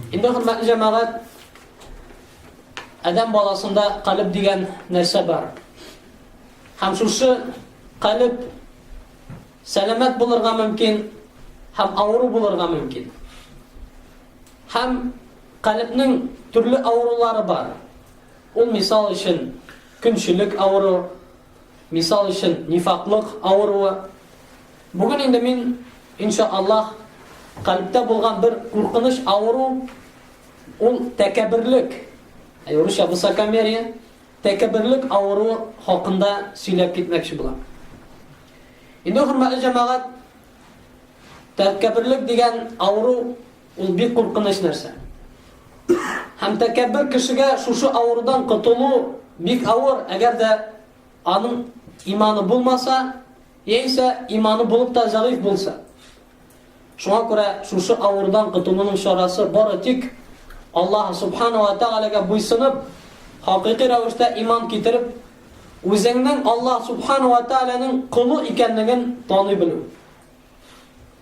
Инде хөрмәтле җәмәгать, адәм баласында калеб дигән нәрсә бар. Һәм шушы калеб сәламәт булырга мөмкин, һәм авыру булырга мөмкин. Һәм калебнең төрле авырулары бар. Ул мисал өчен, көнчелек авыру, Мисал өчен, нифаклык авыруы. Бүген инде мин, инша Аллаһ, кальбтә булган бер куркыныч авыру, ул тәкәбберлек. Юрыша ә высокомерие, тәкәбберлек авыру хакында сөйләп китмәкче булам. Инде хөрмәтле җәмәгать, тәкәбберлек дигән авыру Ул бик куркыныч нәрсә. Һәм тәкәббер кешегә шушы авырудан котылу бик авыр, әгәр дә аның иманы булмаса, яисә иманы булып та зәгыйф булса. Шуңа күрә шушы авырудан котылуның чарасы бары тик Аллаһ субханала тәгаләгә буйсынып, хакыйкый рәвештә иман китереп, үзеңнең Аллаһ субханала тәгаләнең колы икәнлеген таный белү.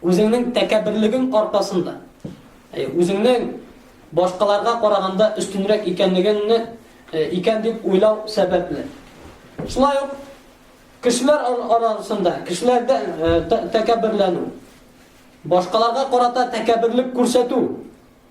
Үзеңнең тәкәбберлегең аркасында, үзеңнең башкаларга караганда өстенрәк икәнлегеңне икән дип уйлау сәбәпле. Шулай ук кешеләр арасында, кешеләрдә тәкәбберләнү, башкаларга карата тәкәбберлек күрсәтү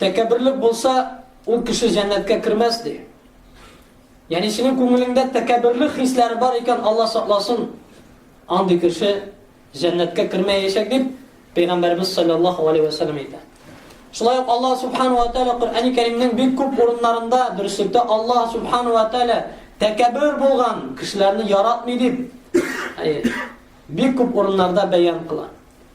Тәкәбберлек булса, ул кеше җәннәткә кермәс, ди. Ягъни синең күңелеңдә тәкәбберлек хисләре бар икән, Алла сакласын, андый кеше җәннәткә кермәячәк, дип Пәйгамбәрбез саллаллаһу алейһи ва саллям әйтә. Шулай ук Алла субхану ва тааля Коръәни Кәримнең бик күп урыннарында дөреслектә Алла субхану ва тааля тәкәббер булган кешеләрне яратмый дип бик күп урыннарда бәян кыла.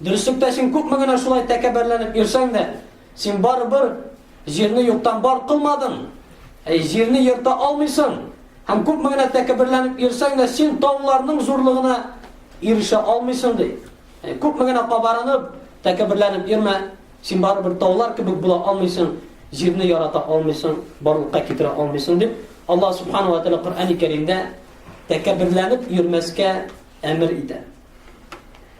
Дөреслектә син күпме генә шулай тәкәббәрләнеп йөрсәң дә, син барыбер җирне юктан бар кылмадың. Әй, җирне ерта алмыйсың. Һәм күпме генә тәкәбберләнеп йөрсәң дә, син тауларның зурлыгына ирешә алмыйсың ди. Әй, күпме генә кабарынып, тәкәбберләнеп йөрмә, син барыбер таулар кебек була алмыйсың, җирне ярата алмыйсың, барлыкка китерә алмыйсың дип, Аллаһ субхана ва тәгалә Коръәни Кәримдә тәкәбберләнеп йөрмәскә әмер итә.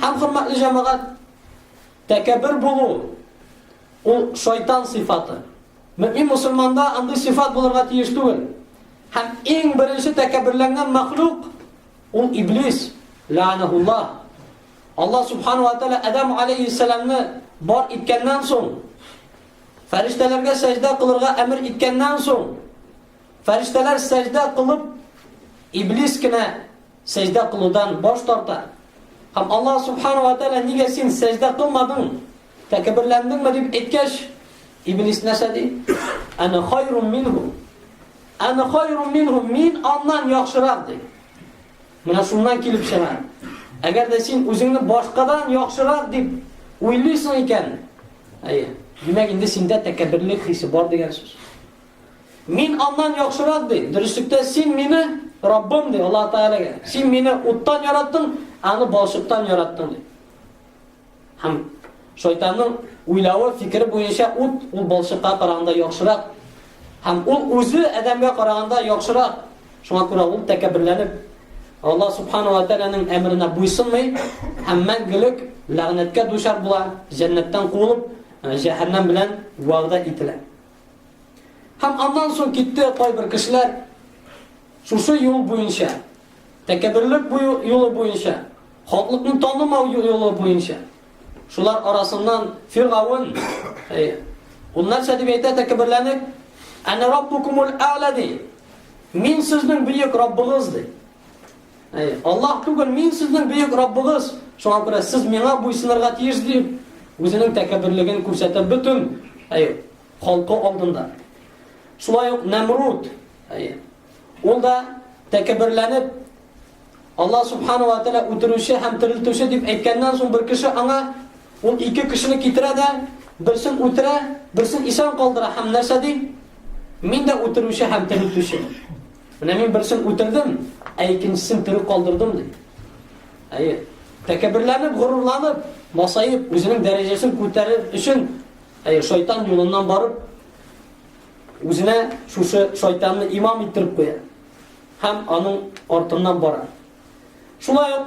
Һәм хөрмәтле җәмәгать, тәкәббер булу ул шайтан сыйфаты. Мөмин мусульманда андый сыйфат булырга тиеш түгел. Һәм иң беренче тәкәбберләнгән мәхлук ул иблис, лаанахуллах. Аллаһ субхану ва тааля Адам алейхиссаламны бар иткәннән соң, фәрештәләргә сәҗдә кылырга әмер иткәннән соң, фәрештәләр сәҗдә кылып, иблис кенә сәҗдә кылудан баш тарта. Һәм Аллаһ Субхану ва Тәгалә нигә син сәҗдә кылмадың? Тәкәбберләндеңме дип әйткәч, Иблис нәрсә ди? Ана хайрун минху. Ана хайрун минху. Мин аннан яхшырак ди. Менә шуннан килеп чыга. Әгәр дә син үзеңне башкадан яхшырак дип уйлыйсың икән, әйе, димәк инде синдә тәкәбберлек хисе бар дигән сүз. Мин аннан яхшырак, ди. Дөреслектә син мине, Раббым, ди, Аллаһ Тәгаләгә. Син мине уттан яраттың, аны балчыктан яраттың, ди. Һәм шайтанның уйлавы, фикере буенча ут ул балчыкка караганда яхшырак. Һәм ул үзе адәмгә караганда яхшырак. Шуңа күрә ул тәкәбберләнеп Аллаһ субхану ва тәгаләнең әмренә буйсынмый һәм мәңгелек ләгънәткә дучар була, җәннәттән куылып, җәһәннәм белән вәгъдә ителә. Һәм аннан соң китте кайбер кешеләр шушы юл буенча, тәкәбберлек юлы буенча, халыкны танымау юлы буенча. Шулар арасыннан Фиргавын, ул нәрсә дип әйтә тәкәбберләнеп, "Ана раббукумул а'ла" ди. Мин сезнең бөек Раббыгыз ди. Аллаһ түгел, мин сезнең бөек Раббыгыз, шуңа күрә сез миңа буйсынырга тиеш дип, үзенең тәкәбберлеген күрсәтә бөтен халкы алдында. Шулай ук Нәмруд, ул да тәкәбберләнеп, Аллаһ субхану ва тәгалә үтерүче һәм терелтүче дип әйткәннән соң бер кеше аңа ул ике кешене китерә дә, берсен үтерә, берсен исән калдыра һәм нәрсә ди? Мин дә үтерүче һәм терелтүче. Менә мин берсен үтердем, ә икенчесен тере калдырдым, ди. Әйе. Тәкәбберләнеп, горурланып, масаеп, үзенең дәрәҗәсен күтәрер өчен, әйе, шайтан юлыннан барып, үзенә шушы шайтанны имам иттереп куя һәм аның артыннан бара. Шулай ук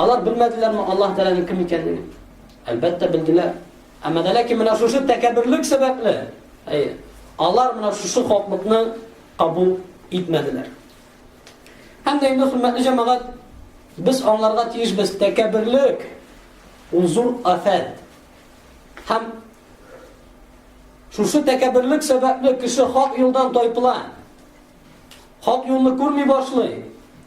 Алар белмәделәрме Аллаһ Тәгаләнең кем икәнлеген? Әлбәттә белделәр. Әмма дә ләкин менә шушы тәкәбберлек сәбәпле, әйе, алар менә шушы хаклыкны кабул итмәделәр. Һәм дә инде хөрмәтле җәмәгать, без аңларга тиешбез тәкәбберлек ул зур афәт. Һәм шушы тәкәбберлек сәбәпле кеше хак юлдан тайпыла. Хак юлны күрми башлый.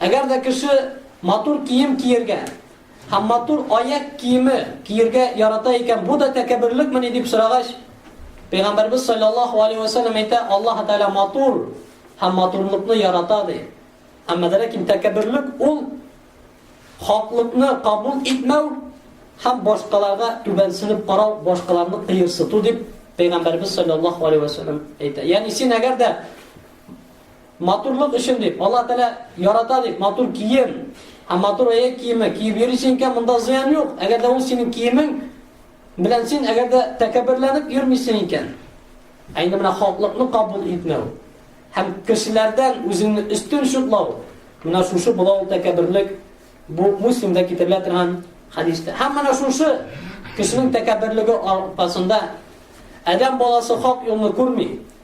Әгәр дә кеше матур кием киергә һәм матур аяк киеме киергә ярата икән, бу да тәкәбберлыкмени дип сорагач, Пәйгамбәрбез саллаллаһу алейһи ва саллям әйтә, Аллаһ Тәгалә матур һәм матурлыкны ярата ди. Әмма дә ләкин тәкәбберлек ул хаклыкны кабул итмәү һәм башкаларга түбәнсенеп карау, башкаларны кыерсыту дип Пәйгамбәрбез саллаллаһу алейһи ва саллям әйтә. Ягъни син әгәр дә Матурлык өчен дип, Алла Тәгалә ярата дип, матур кием һәм матур аяк киеме киеп йөрисең икән, монда зыян юк. Әгәр дә ул синең киемең белән син әгәр дә тәкәбберләнеп йөрмисең икән, ә инде менә хаклыкны кабул итмәү һәм кешеләрдән үзеңне өстен шутлау, менә шушы була ул тәкәбберлек. Бу Муслимда китерелә торган хадистә. Һәм менә шушы кешенең тәкәбберлеге аркасында Адәм баласы хак юлны күрми.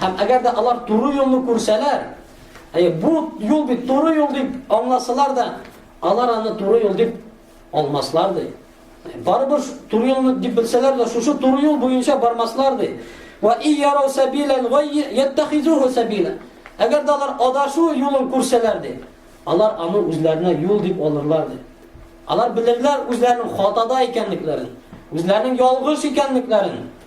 Һәм әгәр дә алар туры юлны күрсәләр, әйе, бу юл бит туры юл дип аңласалар да, алар аны туры юл дип алмаслар ди. Барыбер туры юлны дип белсәләр дә, шушы туры юл буенча бармаслар ди. Ва и ярау сабилан ва яттахизуху сабила. Әгәр дә алар адашу юлын күрсәләр ди, алар аны үзләренә юл дип алырлар ди. Алар белерләр үзләренең хатада икәнлекләрен, үзләренең ялгыш икәнлекләрен.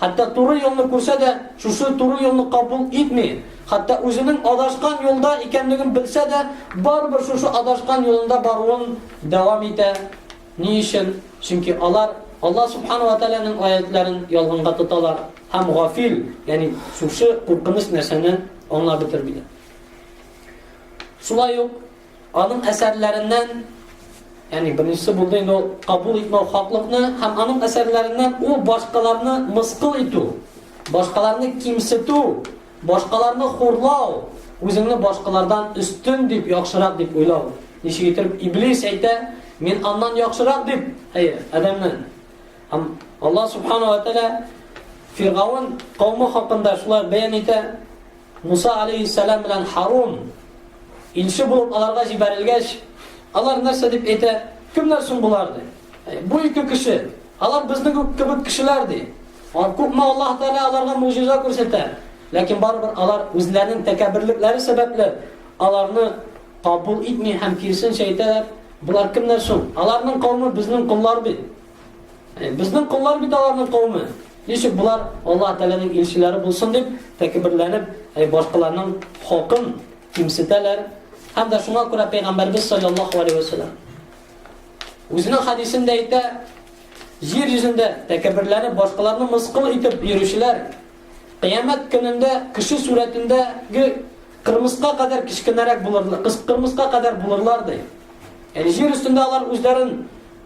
Хәтта туры юлны күрсә дә, шушы туры юлны кабул итми, хәтта үзенең адашкан юлда икәнлеген белсә дә, барыбер шушы адашкан юлында баруын дәвам итә. Ни өчен? Чөнки алар Аллаһ Субхана ва Тәгаләнең аятьләрен ялганга тоталар һәм гафил, ягъни шушы куркыныч нәрсәне аңлап бетермиләр. Шулай ук Аның әсәрләреннән, ягъни беренчесе булды инде ул кабул итмәү хаклыкны һәм аның әсәрләреннән ул башкаларны мыскыл итү, башкаларны кимсетү, башкаларны хурлау, үзеңне башкалардан өстен дип, яхшырак дип уйлау. Ничек итеп Иблис әйтә, мин аннан яхшырак дип, әйе, Адәмнән. Һәм Аллаһ субхана ва тәгалә Фиргаун кавмы хакында шулай бәян итә, Муса галәйһиссәлам белән Һарун илче булып аларга җибәрелгәч, алар нәрсә дип әйтә? Кемнәр соң болар ди? Бу ике кеше, алар безнең үк кебек кешеләр ди. Күпме Аллаһ Тәгалә аларга муҗиза күрсәтә, ләкин барыбер алар үзләренең тәкәбберлекләре сәбәпле аларны кабул итми һәм киресенчә әйтәләр, Болар кемнәр соң? Аларның кавмы безнең коллар бит. Безнең коллар бит аларның кауме. Ничек болар Аллаһ Тәгаләнең илчеләре булсын дип тәкбирләнеп, әй башкаларның хакын кимсетәләр. Һәм дә шуңа күрә пәйгамбәрбез саллаллаһу алейһи ва саллям үзенең хадисендә әйтә, җир йөзендә тәкәбберләре башкаларны мыскыл итеп йөрүчеләр кыямәт көнендә кеше сурәтендәге кырмыска кадәр кечкенәрәк булырлар, кырмыска кадәр булырлар ди. Җир өстендә алар үзләрен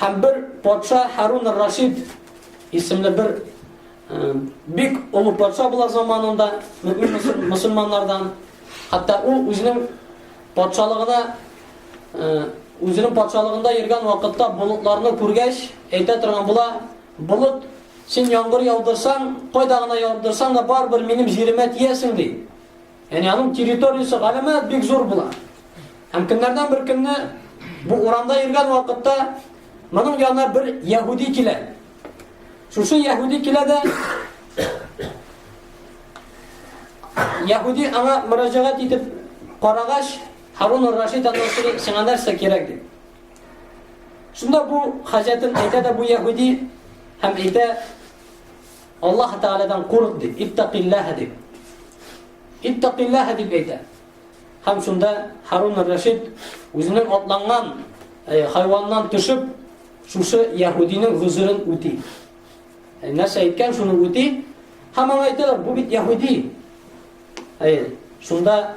Һәм бер патша Харун ар-Рашид исемле бер бик олы патша була заманында мөмин мусульманнардан. Хәтта ул үзенең патшалыгына үзенең патшалыгында йөргән вакытта болытларны күргәч, әйтә торган була, болыт син яңгыр яудырсаң, кайда гына яудырсаң да барыбер минем җиремә тиясең ди. Яни аның территориясе галәмәт бик зур була. Һәм көннәрдән бер көнне бу урамда йөргән вакытта моның янына бер яһүди килә. Шушы яһүди килә дә яһүди аңа мөрәҗәгать итеп карагач, Харун Рашид аннан сиңа нәрсә кирәк дип. Шунда бу хаҗәтен әйтә дә бу яһүди һәм әйтә Аллаһ Тәгаләдән курык дип, иттәкилләһә дип. Иттәкилләһә дип әйтә. Һәм шунда Харун Рашид үзенең атланган э, хайваннан төшеп, шушы яһудиның гүзерен үти. Э, нәрсә әйткән, шуны үти. Һәм аңа әйтәләр, бу бит яһуди. Әй, шунда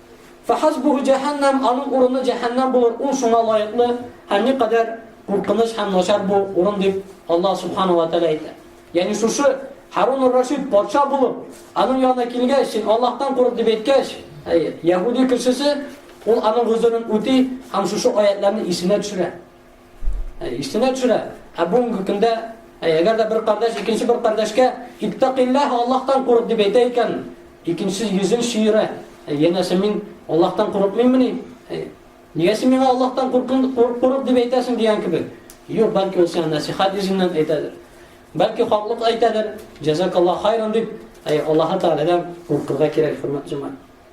Фахасбуху җәһәннәм, аның урыны җәһәннәм булыр, ул шуңа лаеклы, һәм никадәр куркыныч һәм начар бу урын дип Аллаһ Субхану ва Тәгалә әйтә. Ягъни шушы Харун ар-Рашид патша булып, аның янына килгәч, син Аллаһтан курык дип әйткәч, яһуди кешесе ул аның гозерен үти һәм шушы аятларны исенә төшерә. Иштенә төшерә. Ә бүгенге көндә, әгәр дә бер кардәш икенче бер кардәшкә иттәкыйлләһ, Аллаһтан курык дип әйтә икән, икенче йөзен чөерә. Янәсе мин Аллаһтан курыкмыйммыни? Нигә син миңа Аллаһтан курык дип әйтәсең дигән кебек. Юк, бәлки ул сиңа насихат йөзеннән әйтәдер. Бәлки хаклык әйтәдер. Җәзакаллаһ хайран дип, Аллаһ Тәгаләдән куркырга кирәк, хөрмәтле җәмәгать.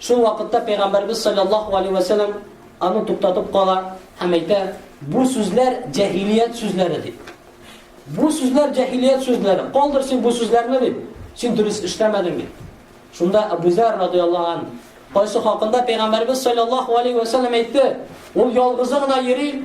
Шул вакытта Пәйгамбәрбез салләллаһу алейһи вә сәлләм аны туктатып кала һәм әйтә, бу сүзләр җәһилият сүзләре дип. Бу сүзләр җәһилият сүзләре. Калдыр син бу сүзләрне дип. Син дөрес эшләмәдең дип. Шунда Абу Зар радияллаһу ан, кайсы хакында Пәйгамбәрбез салләллаһу алейһи вә сәлләм әйтте, ул ялгызы гына йөри,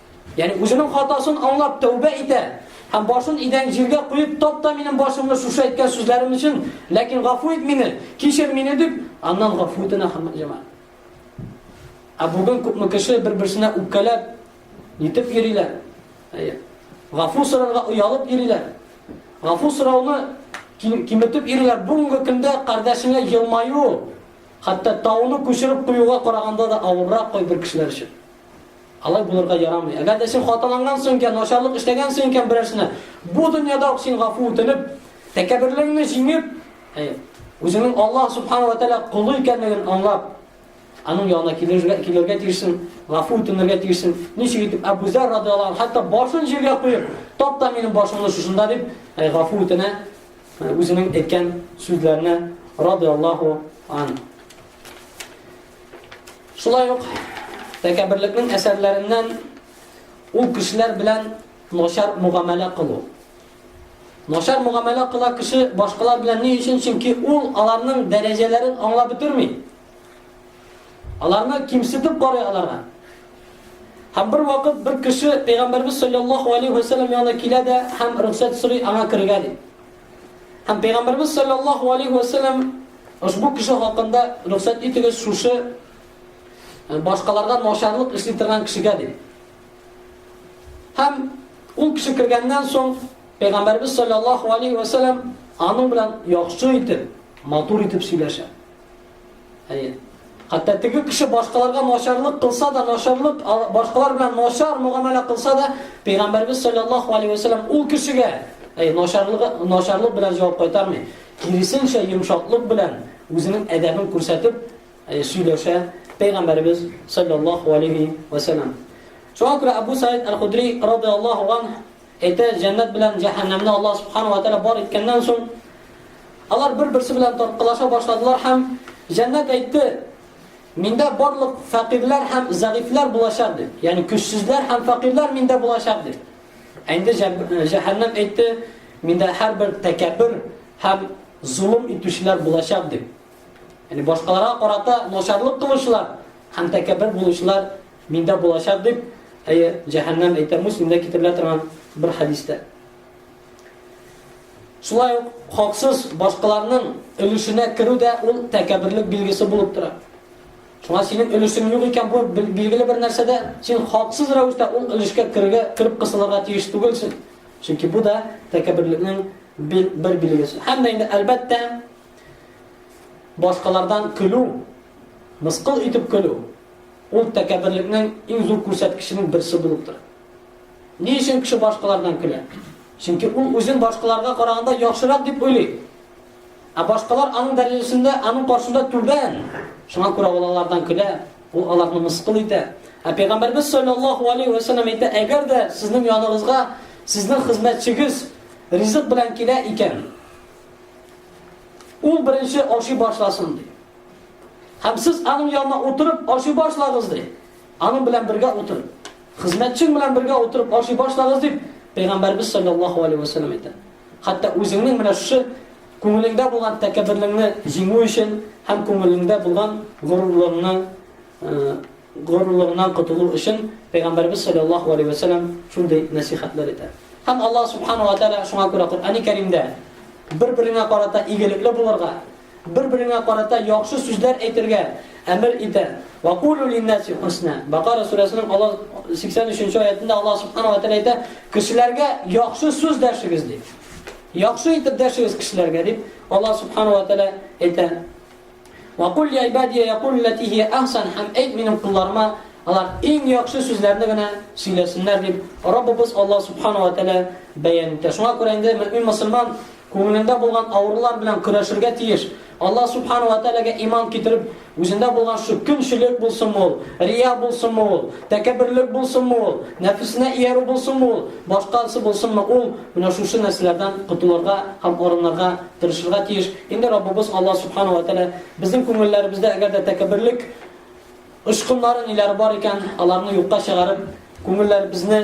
Ягъни үзенең хатасын аңлап тәүбә итә һәм башын идән җиргә куеп, тап та минем башымны шушы әйткән сүзләрем өчен, ләкин гафу ит мине, кичер мине дип, аннан гафу итенә хөрмәтле җәмәгать. Ә бүген күпме кеше бер-берсенә үпкәләп, нитеп йөриләр. Әйе. Гафу сорарга оялып йөриләр. Гафу сорауны киметеп йөриләр. Бүгенге көндә кардәшеңә елмаю, хәтта тауны күчереп куюга караганда да авыррак кайбер кешеләр өчен. Алай булырга ярамый. Әгәр дә син хаталанган соң икән, начарлык эшләгән соң икән берәрсенә, бу дөньяда ук син гафу үтенеп, тәкәбберлегеңне җиңеп, үзеңнең Аллаһ субхана ва тәгалә кулы икәнлеген аңлап, аның янына килергә килергә тиешсең, гафу үтенергә тиешсең. Ничек итеп Абу Зар радиаллаһу анһу хәтта башын җиргә куеп, тапта минем башымны шушында дип, гафу үтенә, үзенең әйткән сүзләренә радиаллаһу анһу. Шулай ук тәкәберлекнең әсәрләреннән ул кешеләр белән начар мөгамәлә кылу. Начар мөгамәлә кыла кеше башкалар белән ни өчен? Чөнки ул аларның дәрәҗәләрен аңлап бетерми. Аларны кимсетеп карый аларга. Һәм бер вакыт бер кеше Пәйгамбәрбез саллаллаху алейхи ва саллям янына килә дә һәм рөхсәт сорый аңа керергә ди. Һәм Пәйгамбәрбез саллаллаху алейхи ва сәлләм ошбу кеше хакында рөхсәт итегез шушы э, башкаларга начарлык эшли торган кешегә ди. Һәм ул кеше кергәннән соң Пәйгамбәрбез саллаллаху алейхи ва сәлләм аның белән яхшы итеп, матур итеп сөйләшә. Әйе. Хәтта теге кеше башкаларга начарлык кылса да, начарлык башкалар белән начар мөгамәлә кылса да, Пәйгамбәрбез саллаллаһу алейһи ва саллям ул кешегә әй начарлыгы начарлык белән җавап кайтармый. Киресенчә йомшаклык белән үзенең әдәбен күрсәтеп сөйләшә Пәйгамбәрбез саллаллаһу алейһи ва саллям. Шуңа күрә Абу Саид аль-Худри радиаллаһу ан Әйтә, җәннәт белән җәһәннәмне Аллаһ Субхана ва Тәгалә бар иткәннән соң, алар бер-берсе белән тарткалаша башладылар һәм җәннәт әйтте, Миндә барлык фәкыйрьләр һәм зәгыйфьләр булачак дип, ягъни көчсезләр һәм фәкыйрьләр миндә булачак дип. Ә инде җәһәннәм әйтте, миндә һәрбер тәкәббер һәм зулым итүчеләр булачак дип. Ягъни башкаларга карата начарлык кылучылар һәм тәкәббер булучылар Миндә булачак дип, әйе, җәһәннәм әйтә Муслимдә китерелә торган бер хәдистә. Шулай ук хаксыз башкаларның өлешенә керү дә ул тәкәбберлек билгесе булып тора. Шуңа синең өлешең юк икән, бу билгеле бер нәрсәдә, син хаксыз рәвештә ул өлешкә керергә, кереп кысылырга тиеш түгелсең. Чөнки бу да тәкәбберлекнең бер, бер билгесе. Һәм дә инде әлбәттә башкалардан көлү, мыскыл итеп көлү, Ул тәкәбберлекнең иң зур күрсәткеченең берсе булып тора. Ни өчен кеше башкалардан көлә? Чөнки ул үзен башкаларга караганда яхшырак дип уйлый. Ә башкалар аның дәрәҗәсендә, аның каршында түбән. Шуңа күрә ул алардан көлә, ул аларны мыскыл итә. Ә Пәйгамбәрбез саллаллаһу алейһи ва саллям әйтә, әгәр дә сезнең яныгызга сезнең хезмәтчегез ризык белән килә икән, ул беренче ашый башласын, ди. Һәм сез аның янына утырып ашый башлагыз, ди. Аның белән бергә утырып, хезмәтчең белән бергә утырып ашый башлагыз, дип Пәйгамбәрбез саллаллаһу алейһи ва саллям әйтә. Хәтта үзеңнең менә шушы күңелеңдә булган тәкәбберлеңне җиңү өчен һәм күңелеңдә булган горурлыгыңны э, горурлыгыннан котылу өчен Пәйгамбәрбез саллаллаһу алейһи ва саллям шундый нәсихәтләр итә. Һәм Аллаһ субхану ва тааля шуңа күрә Коръәни Кәримдә бер-береңә карата игелекле булырга, Бер-береңә карата яхшы сүзләр әйтергә әмер итә. Ва кулу линнаси хусна. Бакара сүрәсенең Аллаһ 83-нче аятында Аллаһ субхана ва тәгалә әйтә, кешеләргә яхшы сүз дәшегез ди. Яхшы итеп дәшегез кешеләргә дип Аллаһ субхана ва тәгалә әйтә. Ва кул я ибадия якул лати хи ахсан хам әйт минем кулларыма алар иң яхшы сүзләрне генә сөйләсеннәр дип Раббыбыз Аллаһ субхана ва тәгалә бәян итә. Шуңа күрә инде мөмин мусульман Күңелендә булган авырулар белән көрәшергә тиеш. Алла Сүбхана вә Тәгаләгә иман китереп, үзендә булган шул көнчелек булсынмы ул, рия булсынмы ул, тәкәбберлек булсынмы ул, нәфесенә иярү булсынмы ул, башкасы булсынмы ул, менә шушы нәрсәләрдән котылырга һәм арынырга тырышырга тиеш. Инде Раббыбыз Алла Сүбхана вә Тәгалә безнең күңелләребездә әгәр дә тәкәбберлек очкыннары-ниләре бар икән, аларны юкка чыгарып, күңелләребезне,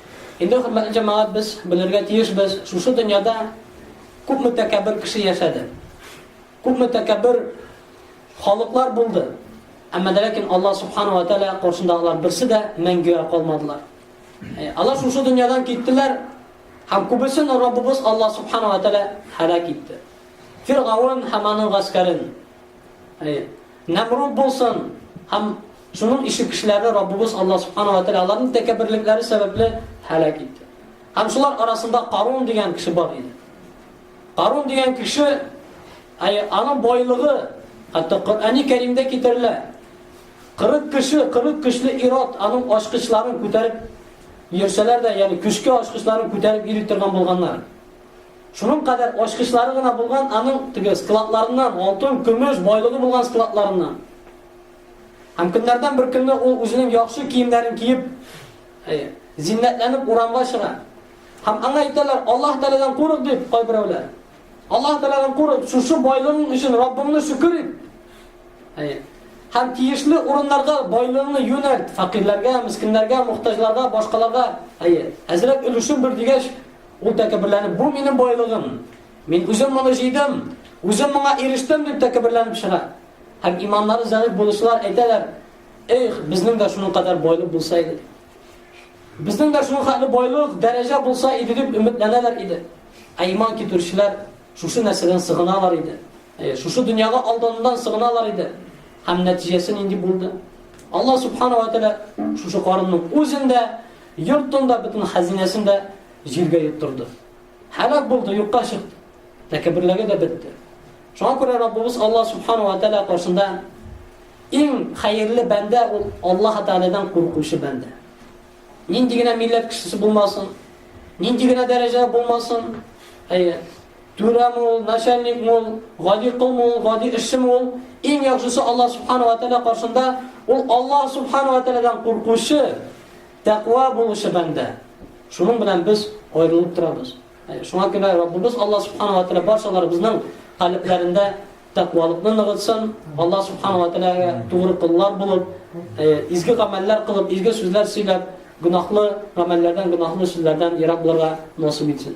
Инде, хөрмәтле җәмәгать, без белергә тиешбез, шушы дөньяда күпме тәкәббер кеше яшәде. Күпме тәкәббер халыклар булды. Әмма дә ләкин Аллаһ субхану ва тааля каршында алар берсе дә мәңгегә калмадылар. Э, алар шушы дөньядан киттеләр, һәм күбесен Раббыбыз Аллаһ субхану ва тааля һәлак итте. Фиргаун һәм аның гаскәрен. Э, Намруд булсын һәм Шуның ише кешеләрне Раббыбыз Аллаһ Субхана вә Тәгалә аларның тәкәбберлекләре сәбәпле һәлак итте. Һәм шулар арасында Карун дигән кеше бар иде. Карун дигән кеше, аның байлыгы, хәтта Коръәни Кәримдә китерелә. 40 кеше, 40 көчле ират аның ачкычларын күтәреп йөрсәләр дә, ягъни көчкә ачкычларын күтәреп йөри торган булганнар. Шуның кадәр ачкычлары гына булган аның теге складларыннан, алтын, көмеш, байлыгы булган складларыннан. Һәм көннәрдән бер көнне ул үзенең яхшы киемнәрен киеп, зиннәтләнеп урамга чыга. Һәм аңа әйтәләр, Аллаһ Тәгаләдән курык дип кайберәүләр. Аллаһ Тәгаләдән курык, шушы байлыгың өчен Раббыңны шөкер ит. Һәм тиешле урыннарга байлыгыңны юнәлт, фәкыйрьләргә, мискиннәргә, мохтаҗларга, башкаларга, әйе, әзрәк өлешен бир дигәч, ул тәкәбберләнеп, бу минем байлыгым. Мин үзем моны җыйдым, үзем моңа ирештем дип тәкәбберләнеп чыга. Һәм иманнары зәгыйфь булучылар әйтәләр, Эх, безнең дә шуның кадәр байлык булса иде. Безнең дә шуның хәтле байлык, дәрәҗә булса иде дип өметләнәләр иде. Ә иман китерүчеләр шушы нәрсәдән сыгыналар иде. Э, шушы дөньяга алданудан сыгыналар иде. Һәм нәтиҗәсе нинди булды? Алла субхана ва тәлә шушы карынның үзен дә, йортын да, бөтен хәзинәсен дә җиргә йоттырды. Һәлак булды, юкка чыкты. Тәкәбберлеге дә бетте. Шуңа күрә Раббыбыз Аллаһ Субхану ва Тәала каршында иң хәерле бәндә ул Аллаһ Тәаләдән куркучы бәндә. Нинди генә милләт кешесе булмасын, нинди генә дәрәҗә булмасын, әйе, түрәме ул, начальникме ул, гади ком ул, гади эшчеме ул, иң яхшысы Аллаһ Субхану ва Тәала каршында ул Аллаһ Субхану ва Тәаләдән куркучы, тәкъва булучы бәндә. Шуның белән без аерылып торабыз. Шуңа күрә Раббыбыз Алла Субхана ва Тәгалә барчаларыбызның калебләрендә тәкъвалыкны ныгытсын, Алла Субхана ва Тәгаләгә тугры куллар булып, изге гамәлләр кылып, изге сүзләр сөйләп, гөнаһлы гамәлләрдән, гөнаһлы сүзләрдән ерак булырга насыйп итсен.